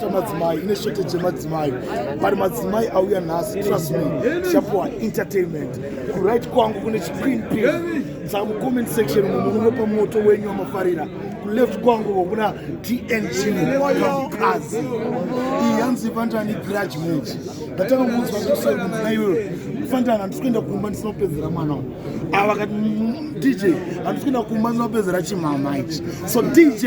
chamadzimai ine shete chemadzimai but madzimai auya nhasi trust me tichapuwa entertainment kuright kwangu kune chiqueen p saka mucomment section mumwe munopa moto wenyu wamafarira kuleft kwangu kokuna tng kazi iyi yanzi vandani grudge match ndatanga kunzwa kusakunzina iyoyo fandana handisi kuenda kumba ndisina kupedzera mwana uyu ava kati dj handisi kuenda kumba ndisina kupedzera chimama ichi so dj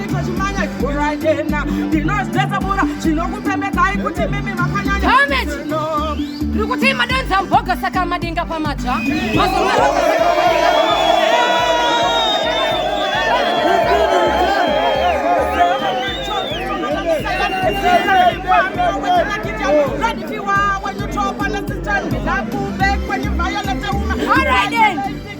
Chimanya chikura chena ndinozvesa bura chinokupembekai kuti mimi makanyanya tiri kuti madonza mboga saka madinga pamatsva All right then.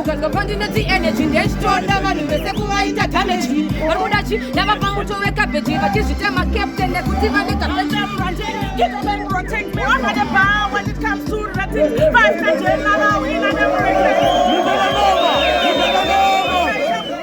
ukazwa pandinoti energy ndechitoda vanhu vese kuvaita damage vari kuda chi ndavapa muto wekabeji vachizvita macaptain nekuti vane kabeji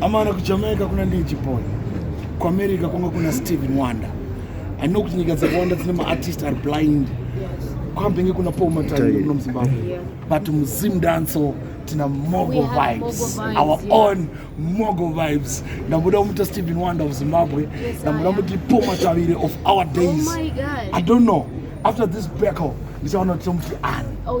amana kujamaica kuna ndii chipoi kuamerica kwanga kuna stephen wanda aino kuti nyika dzakawanda dzine maartist ari blind kwambenge kuna paul matani kuno muzimbabwe but muzim danso tina mogo vibes our own mogo vibes ndamuda kumuita stephen wonder of zimbabwe ndamuda kumuti paul matavire of our oh days i don't know after this battle ndichaona kuti tomuti ani oh,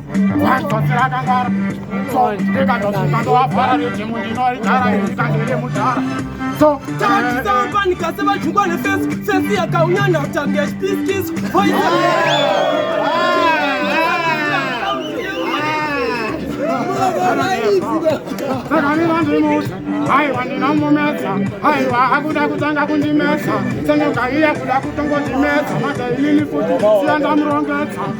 aiwa ndinomumetsa aiwa akuda kutanga kundimetsa senoga iye kuda kutongondimedza mada inini futi siya ndamurongedza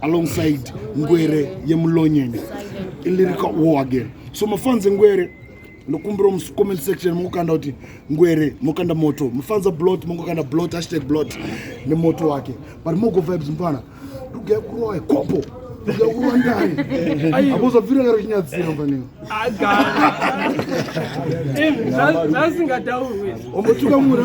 alongside ngwere yemulonyeni ilirika wo again so mafanzi ngwere ndokumbira mucomment section mongokanda kuti ngwere mokanda moto mufanza blot mongokanda blot hashtag blot nemoto wake but mogo vibes mfana ndogaya kurowa kopo ndogaya ndai abozabvira kare chinyadzira mfaneo zvasingatauromotuka mura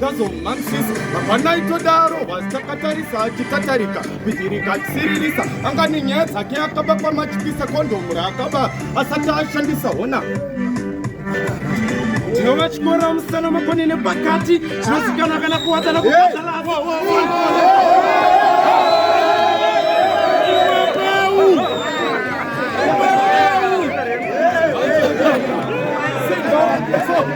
tazomhan'sisa hapana itodaro hwasi takatarisa achitatarika kuhirika achisiririsa anga nenyaya dzake akaba kwamachipisa kondomu raakaba asati ashandisa hona tinova chikora musana makoni nepakati chinosikana kana kuwadzana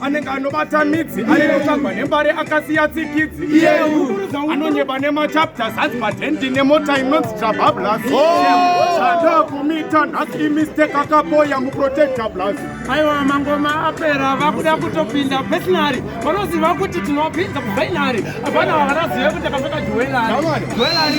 anenge anobata midzi anenotamba nembare akasiya tsikidzi iyeuza anonyeba nemachapta zanzi padendi nemota inonzi trabablashandakumita oh! nhasi imistake akapoya muprotecta blas aiwa mangoma apera vakuda kutopinda pesinari vanoziva kuti tinopinda kufainari hapana vavanazive kuti akapfeka juwelari juwelari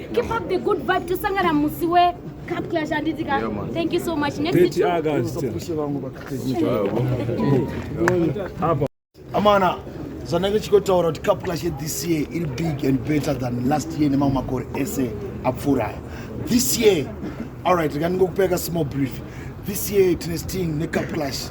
Keep up the good vibe tosangana musi we cup clash handiti ka. Thank you so much. Next Peti to August. Pushe vangu bakati. Apa. Amana zvanenge chikotaura kuti cup clash this year iri big and better than last year nemamwe makore ese apfuura aya. This year all right rega ndingokupeka small brief. This year tine sting necup clash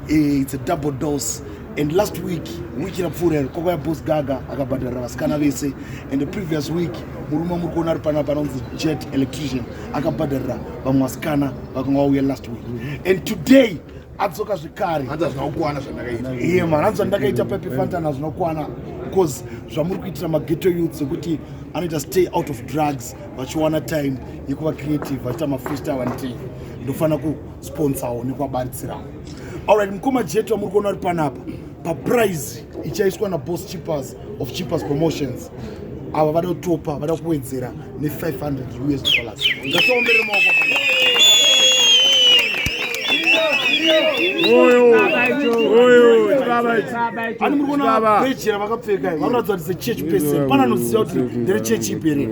eh, it's a double dose and last week week rapfuura iro kwakauya bos gaga akabhadharira vasikana vese and the previous week murume muri kuona ari panapa anonzi jet electrician akabhadharira vamwe vasikana vakanga vauya last week and today adzoka zvekare iye man anzi zvandakaita pepefanta nazvinokwana bcause zvamuri kuitira mageto youth zekuti anoita stay out of drugs vachiwana time yekuva creative vachiita mafreestyle and tea ndofanira kusponsawo nekuvabaritsirawo alright mukoma jetu amuri kuona uri panapa paprize ichaiswa naboss chippers of chippers promotions ava vada kutopa vada kuwedzera ne500 us dollars ngasoomberere maoko ani muri kuona vejera vakapfeka vanoratidza kuti sechurch person pana anoziva kuti ndere chechi ipere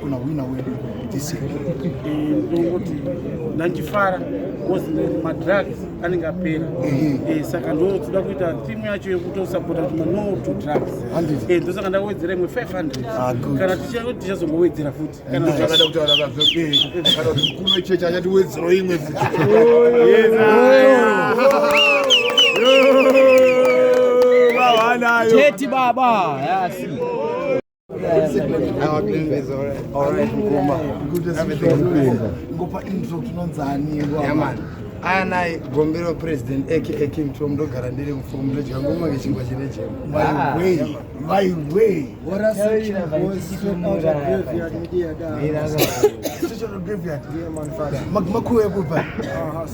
kuna wina wedu this year ndongoti ndandifara because madrugs anenge apera eh, saka ndotoda kuita thimu yacho yekutosapota kuti mano to drugs eh, ndosaka ndawedzera imwe 500 ah, kana tichazongowedzera futi kanaakada eh, kutaura kana kuti mkuru wechechi achatiwedzero imwe futi Teti baba, yeah, I see. anai gombero president aka king tom ndogara ndiri mufomu ndodya ngoma kechingwa chine chemakuekupa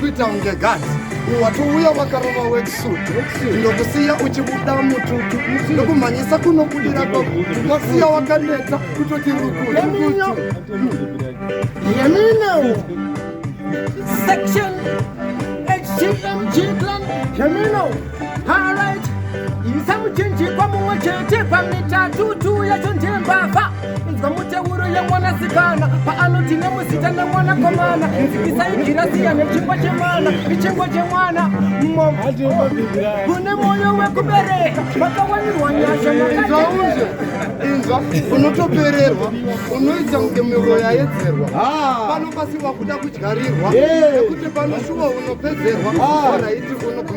kuita unge gati watouya wakarova weksuit ndokusiya uchibuda mututu ndokumhanyisa kunokudira kwako wasiya wakaneta kutoti rukuyeminyo yeminyo section htmg plan yeminyo isa muchinjikwa mumwe chete pamitatutu yacho ndiye mbavha inzwa muteuro yemwanasikana paanoti nemuzita nemwanakomana nzikisaigirasiya nechingwa chemwana ichingwa chemwana kune mwoyo wekubereka makawanirwa nyasha makaunze inzwa unotopererwa unoita kunge miro yaedzerwa ah. pano pasiwa kuda kudyarirwa nekuti pano shuwa unopedzerwa oraiti ah. uno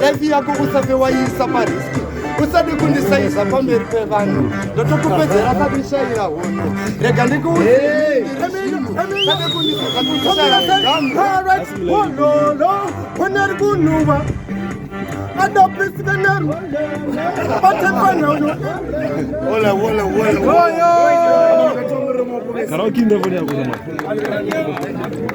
life yako usafe waiisa pariski usade kundisaiza pamberi pevanhu ndotokupedzera kadishaira hono rega ndikuuiaaonari kunhuva adopisikanaro batefana uyo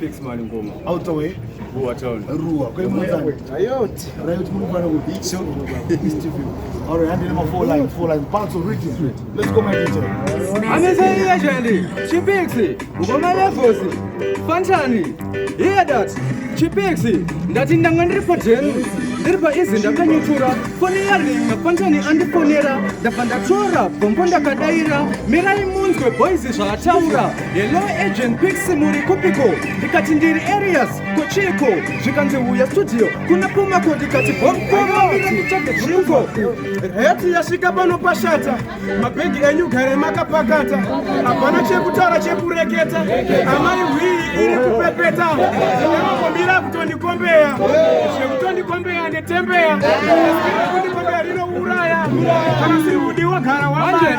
Fix mani ngoma. Out of way. Ruwa town. Ruwa. Kwa hiyo mwanzani. Riot. Riot mulu kwa nungu. Bicho. East View. Alright, handi nema four line, four line. Parts of rhythm. Let's go my teacher. Amesa hii ya jandi. Chipixi. Ngoma lefosi. Fantani. Hear that. Chipixi. Ndati ndanga ndiri pa jenu. Ndiri pa izi ndakanyutura. Foni ya ringa. Fantani andifonera. Ndabva ndatora. Bombo ndakadaira. Mirai munzwe boys zvaataura. Hello agent Pix muri kupiko? Ndikati ndiri Arias kochiko zvikanzi huya studio kuna Pumako ndikati bomboaiko heti yasvika pano pashata mabhegi enyu gare makapakata hapana chekutaura chekureketa amai hwii iri kupepeta aakomira kutondikombeya zvekutondikombeya ndetembeya kundikombeya rinouraya kana siri hudi wagara wamana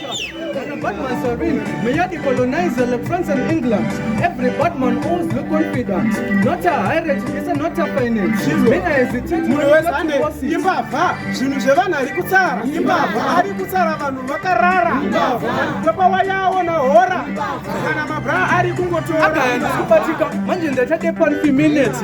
Batman Serene, may the colonizer like France and England. Every Batman always look confident. Not a hierarchy, it's a not a finance. Mena hesitate, munhu wese ane imbavha, zvinhu zvevanhu ari kutsara, imbavha ari kutsara vanhu vakarara, ndopa wayawo na hora, kana mabra ari kungotora. Akaenda kubatika, manje ndachade pan minutes.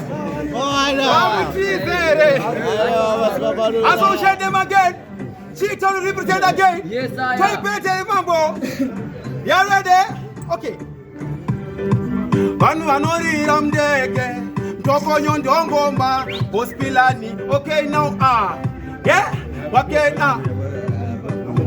Associate them again. She to represent again. Yes, I am. Taipete mambo. You ready? Okay. Vanhu vanorira mndege ndokonyo ndongomba gospilani okay now ah vakena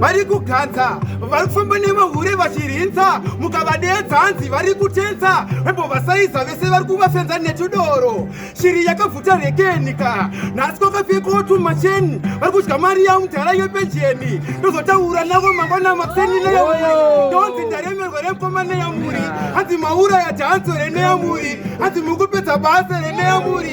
vari kuganza vari kufamba nemahure vachirinza mukavadeedza hanzi vari kutenza vambovasaiza vese vari kuvafenza netudoro shiri yakabvuta rekenika nhasi kwakapfekawo tumacheni vari kudya mari yamudhara yepenjeni ndozotaura navo mangwana makuseni neyamuri ndonzi ndaremerwa remukoma neyamuri hanzi mauraya dhanzo reneyamuri hanzi mukupedza basa reneyamuri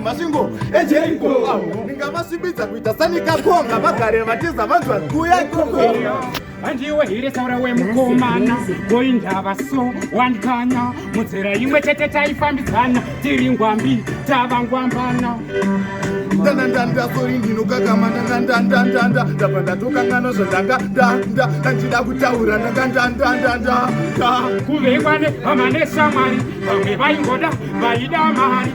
masvingo ejeriko ndingamasimbidza kuita sanikakonga vagare vatiza vanzwa kuya ikoko handiwe here saura wemukomana goindava so wandikanya mudzera imwe chete taifambidzana tiri ngwambi tava ngwambana ndandanda ndabva ndatokangana zvandanga ndanda ndandida kutaura ndangandandandanda kuvekwane vamane shamwari vamwe vaingoda vaida mari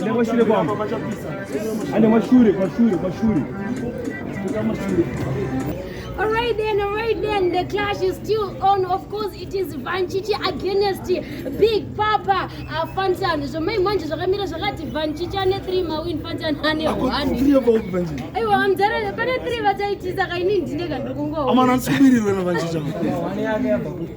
Enda kwashure kwangu. Enda kwashure, kwashure, kwashure. Alright then, alright then, the clash is still on. Of course, it is Vanchichi against Big Papa uh, Fantan. So my manje zvakamira zvakati Vanchichi ane 3 mawin Fantan ane 1. Aiwa amzara pane 3 vataitisa kaini ndine kandokungo. Amana tsubiriro na Vanchichi.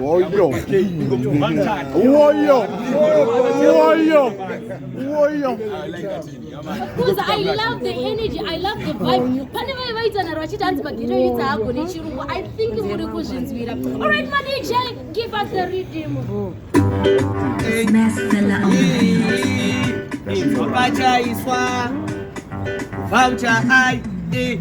Woyo. Woyo. Woyo. Woyo. Because I love the energy, I love the vibe. Pane vaye vaitana vachiti hanzi magiro yitsa haagone chirungu. I think muri kuzvinzwira. All right, Madija, give us the rhythm. Pachaiswa voucher I eh,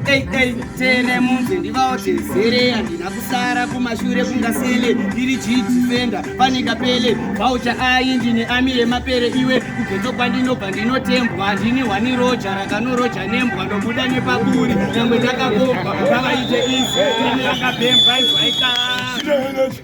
eh, eh, tele munzi ndivawo tezere handina kusara kumashure kungasele ndiri jidifenda panika pele voucher I ndine ami yemapere iwe kugeto kwandinobva ndinotembwa handini hwani roja rakanoroja nembwa ndobuda nepaburi nyangwe ndakakobva vavaite izi tene yakabhembwa izwaikaa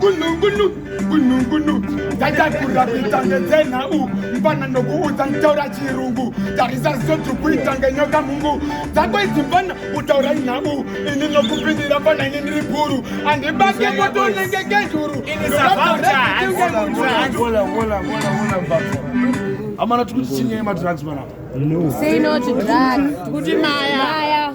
gunugunu gunugunu ndaitakura kuita ngenzenhau mfana ndokuudza nditaura chirungu tarisa zoti kuita ngenyoka mungu dzako idzi mfana utaura nhau ini nokupindira fana ini ndiri bhuru andibake motonenge ngezhuru amana tikuti chinyeye madrugs panapa no. Say no to drugs. Kuti maya. Maya.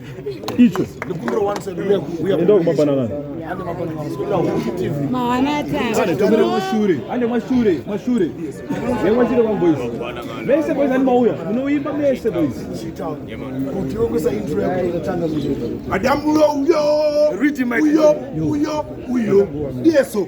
icho enda kumabana kana mawanataatomere mashure ande mashure mashure nemwachire kwamboys mese boys ani mauya munoimba mese boys madambulo uyo uyo uyo uyo ndiyeso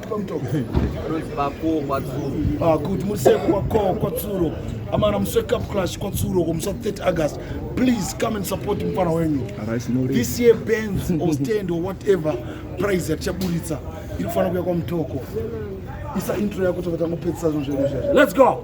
Ah, kuti museko kwakoo kwatsuro amana musweka clash kwatsuro komusa 30 august please come and support mfana wenyu this year bands or stand or whatever prize yatichaburitsa iri kufanira kuya kwamutoko isa intro yako tokatangopedzisa zvinhu zvedu izvezvi let's go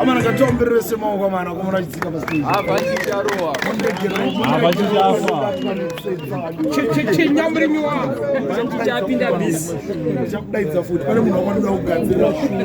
amana katombirese maoko amana komona achidzika pasichinyamurinywachakudaidza futi pane munhu wakwanoda kugadzirira shuri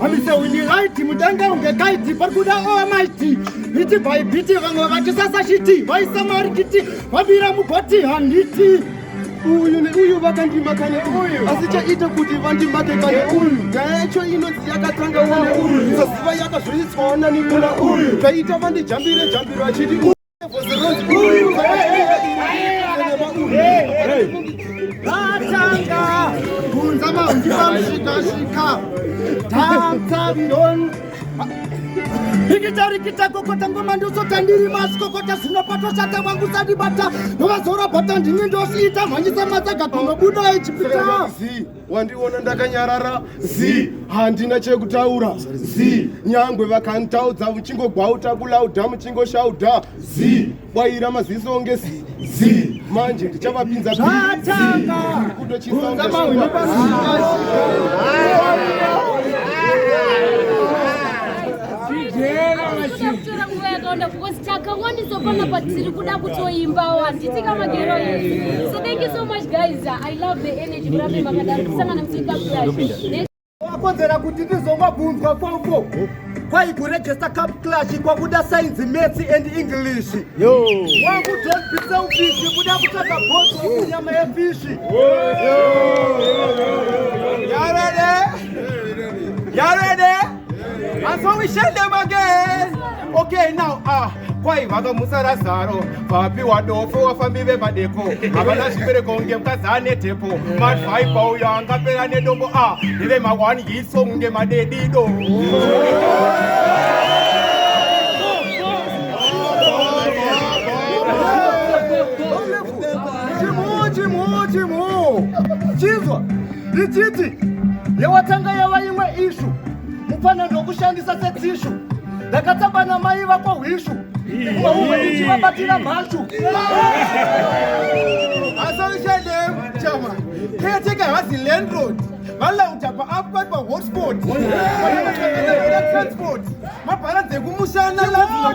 Amise wini right mutanga unge kaiti parikuda owa maiti biti by biti vamwe vatisasa shiti vaisa marikiti vabira mugoti handiti uyu neuyu vakandima kane uyu asi chaita kuti vandimake kane uyu nyaya yacho inonzi yakatanga wane uyu saziva yakazviriswawo nani kuna uyu kaita vandijambire jambiro achiti Batanga, Bunzama, Unjibam, Shika, Shika, Tata, Don. ikitarikita kokota ngoma ndosota ndiri masi kokota zvinopatwa chata wangu sadibata novazora bata ndini ndosiita mhanyisa matsaga kunobuda echipita wandiona ndakanyarara zi handina chekutaura zi nyangwe vakanditaudza muchingogwauta kulauda muchingoshauda zi bwaira maziso onge zi zi manje ndichavapinza kutochisaunga Uganda because takawandisa panapa tiri kuda kutoimbawo handiti kamagero so thank you so much guys i love the energy. wakonzera kuti ndizongobvunzwa kwauko kwai kuregesta cup clash kwakuda science maths and english wangu don't be selfish kuda kutsvaga botso kunyama yefishi yarede yarede And so we share them again. Okay, now, ah, kwai vakamutsa razaro vapi wadofo wafambi vemadeko havana zvibereko kunge mukadzi ane tepo madhaipa uyo angapera nedombo a ndeve mawani hiso kunge madedido chimuu chimuu chimuu chinzwa ndichiti yewatanga yava imwe ishu mupfanha ndokushandisa setishu ndakatamba namai vako hwishu umwe ichivabatira mhashu asaushadechama keyateka hasi landroad valauta paapa pahotspot transport mabhara dzekumushana lazima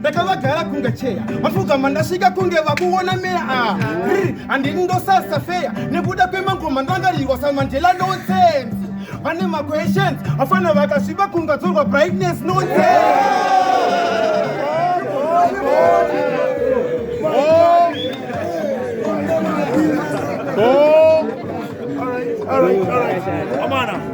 ndakavagara kunge cheya vapfugama ndasvika kunge vakuona meya ah, handini ndosasa feya nekuda kwemangoma ndangarirwa samandela nonsense vane maquestions vafana vakasviba kungadzorwa brightness nonsense Amana.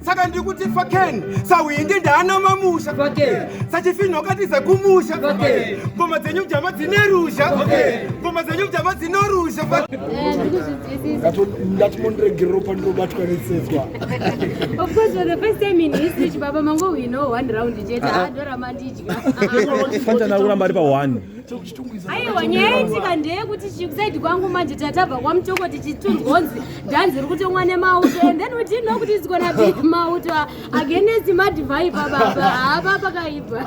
saka ndiri kuti faken sahwindi ndaana mamusha sachifinho katiza kumusha ngoma dzenyu mjama dzine ruzha ngoma dzenyu mjama dzino ruzha ndati mondiregerero pandinobatwa netsedzwa fantana kuramba ari pa one aiwa nyaya yaitika ndeyekuti chikusaidi kwangu manje tatabva kwamutoko tichitunzwonzi dhanzi iri kutomwa nemauto and then within know kuti isikona big mauto against madivai pababa hapa pakaipa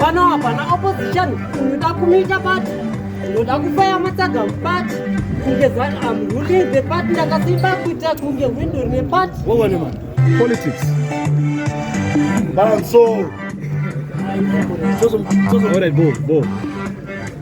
pano hapana opposition unoda kumita pati unoda kufaya matsaga mupati kunge zan am ruling the part ndakasimba kuita kunge hwindo rine pati wowone ma politics banso All right, bo, bo.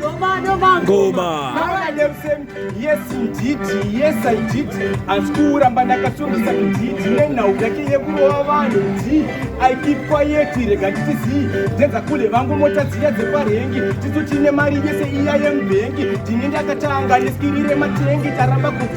Noma, noma, ngoma. Now I am saying, yes indeed, yes I did. Asi kuramba ndakasungisa kudidi nenhau yake yekurova vanhu ndi I keep quiet rega titizii dzenza kule vangu mota dziya dzeparengi tisu tine mari yese iya yemubhengi ndine ndakatanga neskiri rematengi taramba kuti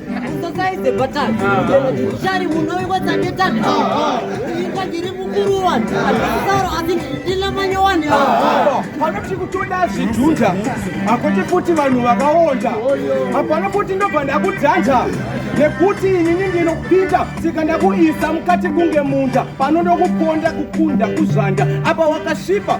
panoti kutoda zvidhunza hakuti futi vanhu vakaonda hapana kuti ndobva ndakudhanja nekuti inini ndinopinda sika ndakuisa mukati kunge munda pano ndokuponda kukunda kuzvanda apa wakasvipa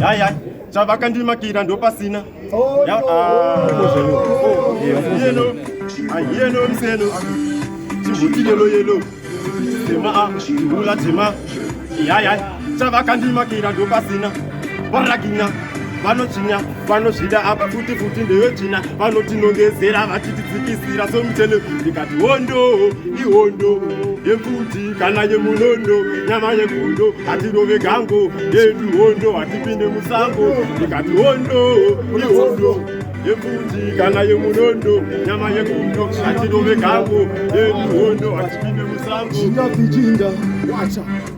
Yayi yayi. Chavakandimakira ndopasina. Oh, ya, no. Ah. Oh, yellow. Ah, yellow mselo. Chihuti yellow yellow. Tema ah, ula tema. Yayi yayi. Chavakandimakira ndopasina. Varagina. Vanochinya. vanozvida apa futi futi ndevetsvina vanotinongezera vachitidzikisira somitele ndikati hondo ihondo yemfuti kana yemunondo nyama yegondo hatirove gango yedu hondo hatipinde musango ndikati hondo ihondo yemfuti kana yemunondo nyama yegondo hatirove gango yedu hondo hatipinde musango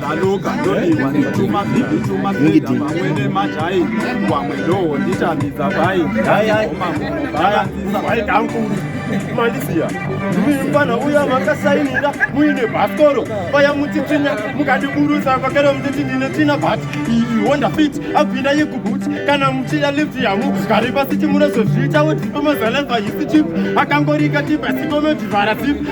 Taluka ndodiwa ndituma bhibi tuma bhibi vamwene majai wamwe ndowo nditambidza bai baya bai kankuru mandisiya mfana uya makasainira muine bhasikoro paya mutitsinya mukandiburusa pakero mutiti ndine tsina bhati iyi honda fit abvina yekubuti kana muchida lift yamu gari pasiti munozozviita woti pamazaleva yisi chip akangorika tipa sikomedivhara zip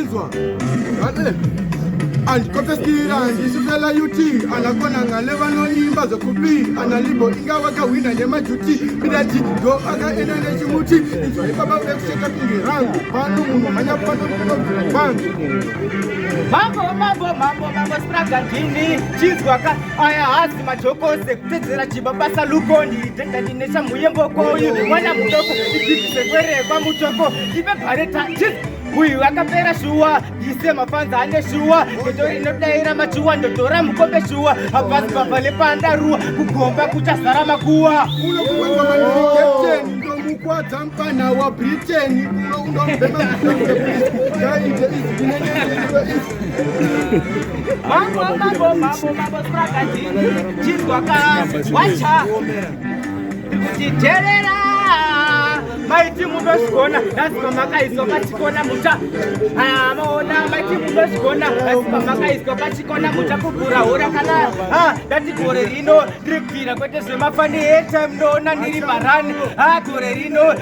Izwa. Ate. Andikopesira ndisifela UT anakona ngale vanoimba zvokupi analibo inga vakahwina nemajuti midati ndo akaenda nechimuti izwa ipapa vekucheka pingi rangu pano munhu mhanya pano kunobvira kwangu mambo mambo mambo mambo spragadini chinzwaka aya hasi majokose kutedzera chiba basa lukoni dendandinesa muyembokoyu mwana mudoko igibisekwerekwa mutoko ive bhareta uyu akapera shuwa ise mafanza ane shuwa ndoto inodaira machuwa ndotora mukombe shuwa hapasi bava lepanda ruwa kugomba kuchazara makuwa kwadza mpana wabritain uno unombema Mambo, mambo, mambo, mambo, strakaji, chizwa ka, wacha, kuti terera, maiti mundozvigona, lazima makaiswa pachikona muta, ah, maona, maiti mundozvigona, lazima makaiswa pachikona muta, kugura hora kana, ah, dati gore rino, ndiri kubvira kwete zvemafa, ni airtime, ndoona ndiri barani, ah, gore rino,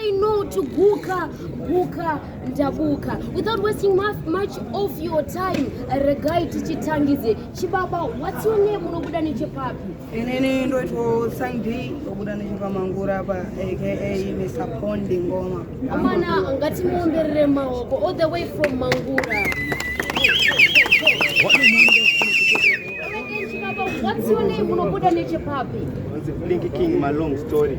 Say no to Guka, Guka, Ndabuka. Without wasting much of your time, regai tichitangidze. Chibaba, what's your name? Unobuda nechepapi? Inini ndoitwa Sangdi, ndobuda nechepamangura apa aka Mr. Pondi Ngoma. Amana, ngatimuomberere maoko all the way from Mangura. What's your name? Unobuda nechepapi? Blinky King, my long story.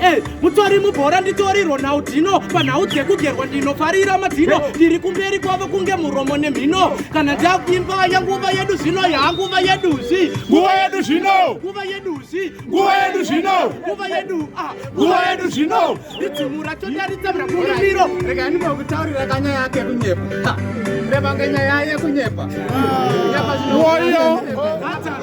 Hey, eh, mutori mubhora nditori ronaldino panhau dzekugerwa ndinofarira madhino eh. ndiri kumberi kwavo kunge muromo nemhino kana ndakuimba yanguva yedu zvino yanguva yeduzvi nguva yedu zvino nguva yeduzvi nguva yedu zvino nguva yedu ah. nguva yedu zvino idzimu racho ndaritsamira kurimiro rega ndimokutaurira kanya yake kunyepa revange nyaya yekunyepa ah. nyepa zvinowoyo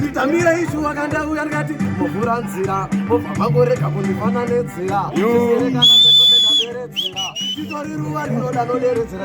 nditamira isu wakandauya ndikati muvhura nzira mobva mangorega kundifana nedzira titori ruva rinoda noderedzera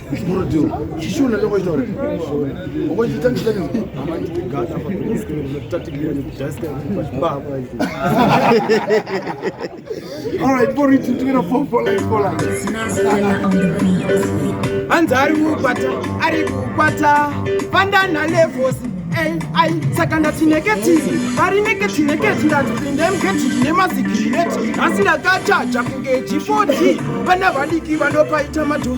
hanzi ari kukwata ari kukwata vandana levosi ai saka ndati neketiri ari neketi neketi ndati pinde muketi ndine mazigireti asi ndakachaja kunge g4d vana vadiki vanopaita madhoo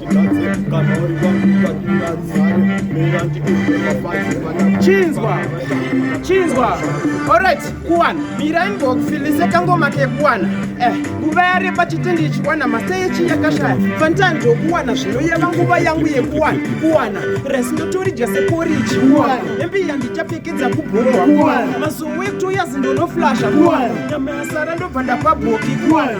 chinzwa chinzwa orit kuwana mirai mbokufilise kangoma kekuwana eh, nguva yareba chitende ichiwana masa yechi yakashaya fanitani ndokuwana zvinoyeva nguva yangu yekuwana kuwana resi ndotoridya seporiji hembe yandichapfekedza kubhowa mazuwa ekutoyazi ndonoflasha nyama yasara ndobva ndapabhoki kuwana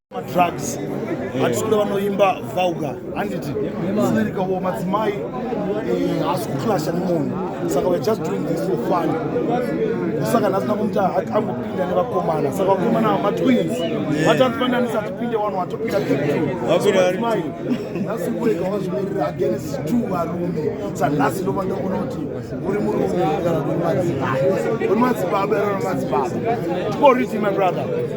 madrugs hatisi kuda vanoimba vulgar handiti zvinerikawo madzimai eh, haasi kuclasha nemunhu saka weare just doing this for fun saka nhasi nakumti angopinda nevakomana saka vakomana matwins vatanzivananisa tipinde wanu watopinda tmai nhasi kurega wazvimirira against two varume sanhasi ndova ndaona kuti uri murume kana uri madzibaba uri madzibaba uri madzibaba tikoriti my brother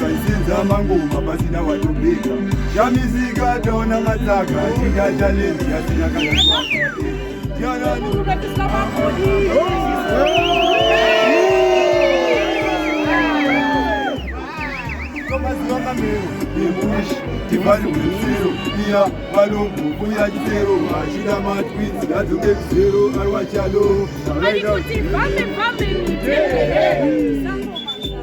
Kaisenza mangoma pasina watobika Shamizika taona matsaka Chida challenge yasina kana Divine with zero, iya balongo kuya chitero vachida matwins yadzoke kuzero arwa chalo. Arikoti vame vame mutende.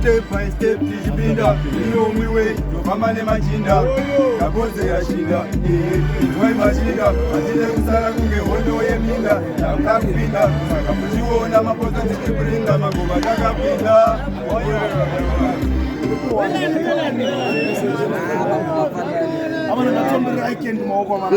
step by step tichipinda inomwe wei tofamba nemachinda kaboze yashinda inzwai machinda hatide kusara kunge hondo yeminda takuda kupinda saka muchiona maposa tichiprinda magova takapinda Abana natomberai kendi maoko abana.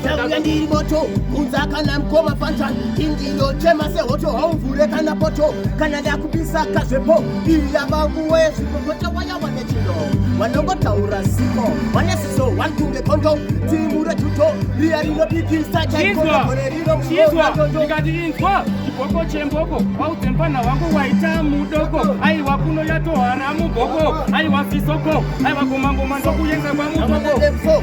Ndauya ndiri moto unza kana mkoma fanta indiyo chema sehoto haumvure kana poto kana ndakupisa kazvepo iya vanguwe zvipopota waya wane chino vanongotaura ziko vane siso one kunge kondo timu rejuto riya rinopikisa chaikore rino ndikati inzwa chiboko chemboko waudze mpana wangu waita mudoko aiwa kuno yatohana muboko aiwa fisoko aiwa gomangoma ndokuyenza kwamuboko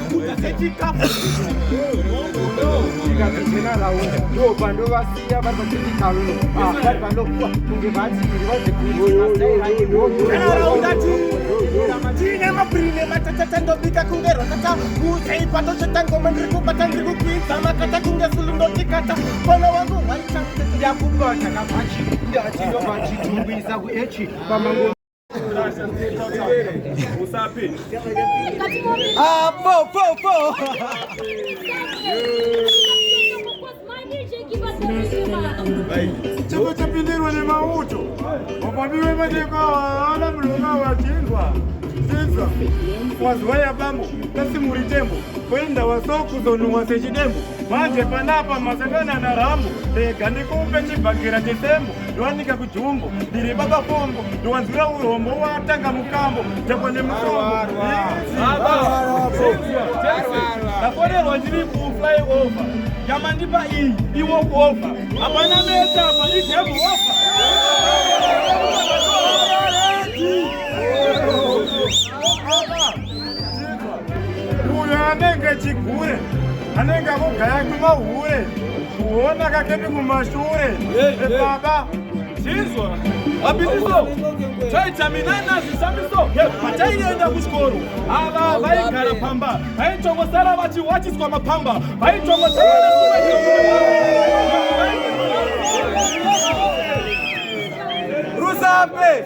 tiine mabhiri nematatata ndobika kunge rwatata uzaipato chetangoma ndiri kubata ndiri kukwidza makata kunge sulu ndotikata pona wangu waita ndakubata kabhachi ndati ndobachitumbisa kuechi pamango Ah, po, po, po. Chombo chapindirwa nemauto wapamiwe mateko awana mulonga wachinzwa chinzwa waziwa yabambo kasi muri tembo kwenda wasokuzonunwa sechidembo manje panapa masangana na rambo rega ndikupe chibhakira chetembo ndowanika kujumbo ndiri baba pombo ndowanzwira urombo watanga mukambo takwa nemukomboafonerwa ndiri kuflyover yamandipa iyi iwokova hapana mesa apa idemova Oh, uyo anenge chigure anenge akugaya kumahure kuona kakepi kumashure ebaba chinzwa abitiso chaitaminana zvisamiso pataienda kuchikoro ava vaigara pamba vaitongosara vachiwatiswa mapamba vaitongosara rusape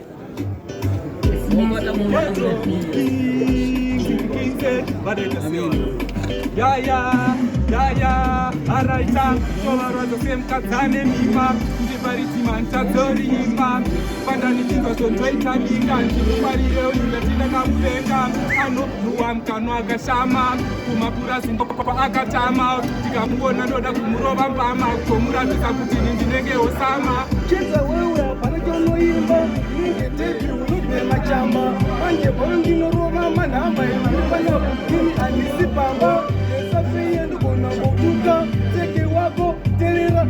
Yeah, yeah, yeah, yeah. All right, I'm going to same cut and then keep up. paritimantadzoriimba pandanitinga zvondoita minga ndikumarire uindatinda kakuvenga anonuwa mukanwa akashama kumapurazi akatama ndikamuona ndoda kumurova mbama kutomuratidza kuti ini ndinenge osama chedza wewe hapana chaunoimba inenge debi unogwe machamba manje pano ndinorova manhamba evanofana kutini handisi pamba esafeye ndogona ngokuka tseke wako terera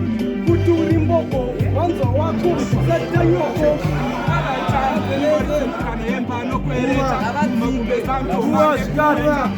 kuti uri mboko wanzwa wako satanyoko What?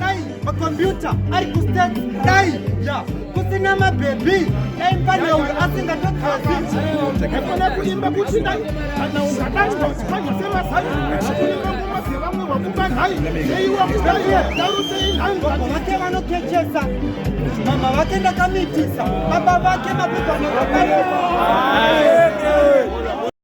dai makombiyuta ari kustat dai ya kusina mabhebhi dai mfana uyu asingatogezi ndakafana kuimba kuti dai kana ungadai wazipanya semasai akuimba ngoma dzevamwe wakuba nhai yeiwa kudai darusei nhai baba vake vanokechesa mama vake ndakamitisa baba vake mapepano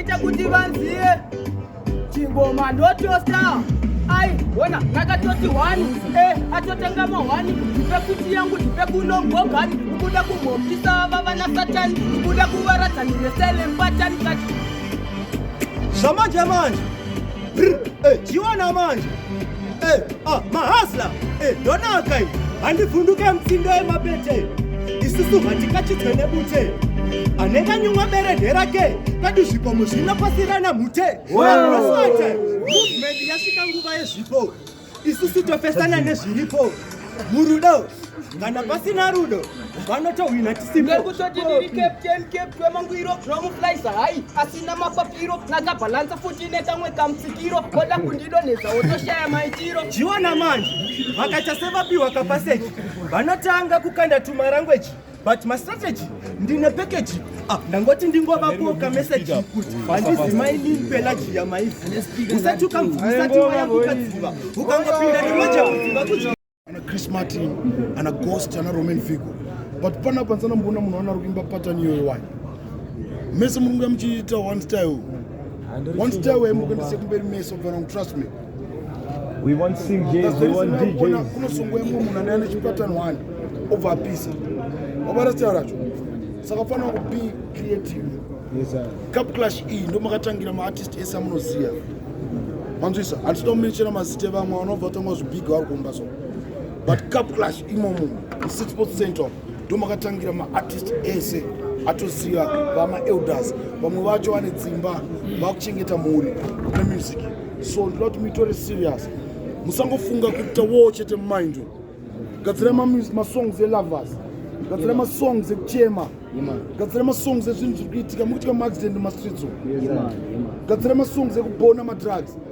Ita kuti vanziye chingoma ndotosta ai wona ndakatoti hwani e atotanga mahwani ndipekuti yangu ndipekunongogani ukuda kumhopisa ava vana satani ukuda kuvaradzani neselempatani kati zvamanje manje chiona eh, manje eh, ah, mahasla eh, ndonaka iyi handivhunduke mutsindo yemabete isusu hatikachidzwe nebute anenge anyumwa beredhe rake kadi zvikomo zvinopasirana mhute movement yasvika nguva yezvipo isu sitopesana nezviripo murudo kana pasina rudo vanotohwina tisimekutoti ndiri captain capt wemangwiro zvinomuflyisa hayi asina mapapiro nakabhalansa futi nekamwe kamutsikiro koda kundidonhedza wotoshaya maitiro jiona manje vakaita sevapiwa kapaseji vanotanga kukanda tumarangweji but mastrategy ndine package ah, ndangoti ndingovapo kameseji kuti handizi mainin pelaji yamaifu usati ukamvuisati waya kukadziva ukangopinda nemoja kuziva kuzvi ana chris martin ana ghost ana roman figo but pana pansana mboona munhu anaro kuimba patani iyoyo wani mese munonga muchiita one style one style waimukendise kumberi mese obva nangu trust me We want sing J's, we want DJs. Kunosungwa imwe munhu ane ane chipatani wani obva apisa. Wabara sitara racho. Saka fanira ku be creative. Yes sir. Cup clash iyi e, ndo makatangira ma artist ese amunoziva. Manzwisa, handisida kumenchera mazita evamwe vanobva vatanga zvibhiga vari kumba so. But cup clash imomo, Six Sports Central. ndomakatangira maartist ese atoziva vamaelders vamwe vacho vane dzimba vakuchengeta mhuri nemusic so ndoda kuti muitore serious musangofunga kuita wo chete mumind gadzira masongs elovers gadzira masongs ekuchema gadzira masongs ezvinhu zviri kuitika mukuitika maaccident mumastreets gadzira masongs ekubona madrugs